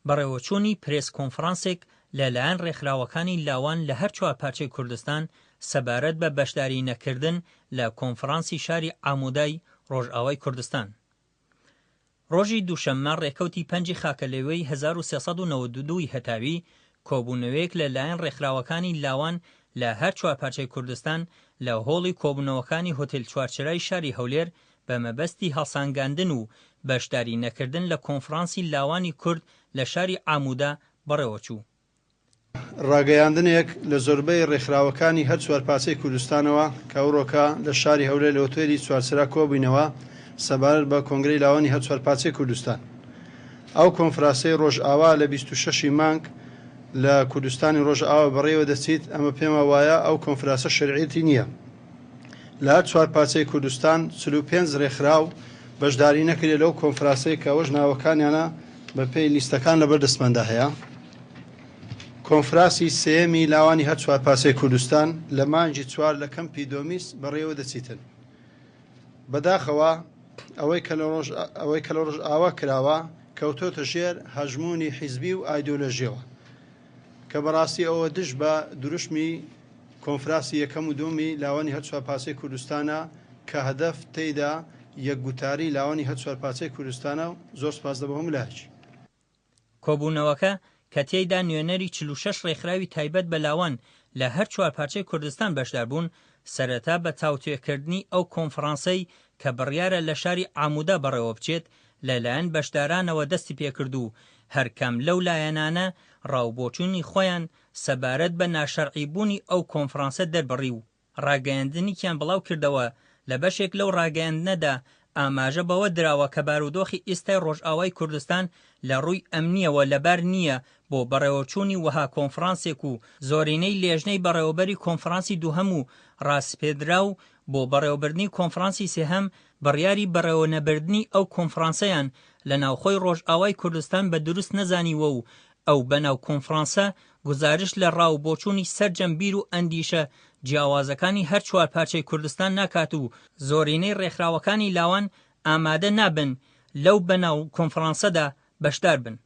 بەڕێوەچوونی پرێس کۆنفڕانسێک لە لایەن ڕێکخراوەکانی لاوان لە هەر چوار پارچەی کوردستان سەبارەت بە بەشداری نەکردن لە کۆنفڕانسی شاری عامودای ڕۆژئاوای کوردستان ڕۆژی دووشەممە ڕێکەوتی پەنجی خاکەلێوەی 1392 ی هەتاوی کۆبوونەوەیەک لە لایەن ڕێکخراوەکانی لاوان لە هەر چوار پارچەی کوردستان لە هۆڵی کۆبوونەوەکانی هۆتێل چوارچرای شاری هەولێر بە مەبەستی هەڵسانگاندن و بەشداری نەکردن لە کۆنفرانسی لاوانی کورد لە شاری عامودا بەڕێوە چوو. ڕاگەیاندنێک لە زۆربەی ڕێکخراوەکانی هەر چوار پارچەی کوردستانەوە کە ئەوڕۆکە لە شاری هەولێر لە ئوتێلی چوارچرا کۆبووینەوە سەبارەت بە کۆنگرەی لاوانی هەر چوار پارچەی کوردستان ئەو کۆنفراسەی ڕۆژئاوا لە بیست و شەش ی مانگ لە کوردستانی ڕۆژئاوا بەڕێوە دەچیت ئەمە پێما وایە ئەو کۆنفراسە شەرعیەتی نیە. لە هەر چوار پارچەی کوردستان چل و پێنج رێکخراو بەشداری نەکرێت لەو کۆنفراسەی کە ئەوەش ناوەکانیانە بە پێی لیستەکان لە بەر دەستماندا هەیە کۆنفراسی سێمی لاوانی هەر چوار پارچەی کوردستان لە مانجی چوار لە کەمپی دۆمیس بەڕێوە دەچیتن بەداخەوە ئەوەی کە لە ڕۆژ ئەوەی کە لە ڕۆژ ئاوا کراوە کەوتۆتە ژێر هەژمونی حیزبی و ئایدۆلۆژیەوە کە بەڕاستی ئەوە دژ بە دروشمی کۆنفراسی یەکەم و دووەمی لاوانی هەر چوار پارچەی کوردستانە کە هەدەف تێیدا یەک گوتاری لاوانی هەر چوار پارچەی کوردستانە و زۆر سپاس لە بۆ هەموو لایەکی. کۆبوونەوەکە کە تێیدا نوێنەری چل و شەش ڕێکخراوی تایبەت بە لاوان لە هەر چوار پارچەی کوردستان بەشدار بوون، سەرەتا بە تاوتوێکردنی ئەو کۆنفڕانسەی کە بڕیارە لە شاری عامودا بەڕێوە بچێت، لە لایەن بەشدارانەوە دەستی پێکرد و هەرکام لەو لایەنانە ڕا و بۆچوونی خۆیان سەبارەت بە ناشەرعی بوونی ئەو کۆنفڕانسە دەربڕی و ڕاگەیەندنیکیان بڵاو کردەوە، لە بەشێک لەو ڕاگەیەندنەدا ئاماژە بەوە دراوە کە بارودۆخی ئیستای ڕۆژئاوای کوردستان لە ڕووی ئەمنییەوە لەبار نییە بۆ بەڕێوەچوونی وەها کۆنفڕانسێک و زۆرینەی لێژنەی بەڕێوەبەری کۆنفڕانسی دووهەم و ڕاسپێردراو بۆ بەڕێوەبردنی کۆنفڕانسی سێهەم بڕیاری بەڕێوەنەبردنی ئەو کۆنفڕانسەیان لە ناوخۆی ڕۆژئاوای کوردستان بە دروست نەزانیوە و ئەو بە ناو کۆنفڕانسە گوزارشت لە ڕا و بۆچوونی سەرجەم بیر و ئەندیشە جیاوازەکانی هەر چوار پارچەی کوردستان ناکات و زۆرینەی ڕێکخراوەکانی لاوان ئامادە نابن لەو بە ناو کۆنفڕانسەدا بەشدار بن.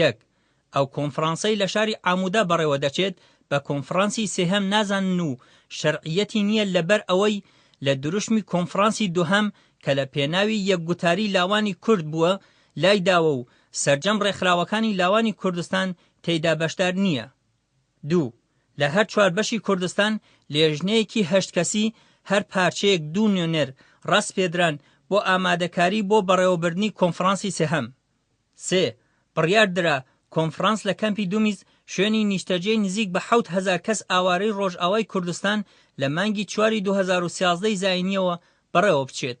یەک، ئەو کۆنفرانسەی لە شاری عامودا بەڕێوە دەچێت بە کۆنفرانسی سێهەم نازانن و شەرعییەتی نییە لەبەر ئەوەی لە دروشمی کۆنفرانسی دوهەم کە لە پێناوی یەکگوتاری لاوانی کورد بووە لای داوە و سەرجەم ڕێکخراوەکانی لاوانی کوردستان تێیدا بەشدار نییە. دوو، لە هەر چوار بەشی کوردستان لێژنەیەکی هەشت کەسی هەر پارچەیەک دوو نوێنەر ڕەسپێدران بۆ ئامادەکاری بۆ بەڕێوەبردنی کۆنفرانسی سێهەم. سێ، بڕیار درا کۆنفڕانس لە کەمپی دومیز شوێنی نیشتەجێی نزیک بە حەوت هەزار کەس ئاوارەی ڕۆژئاوای کوردستان لە مانگی چواری دوو هەزار و سیازدە ی زاینییەوە بەڕێوە بچێت.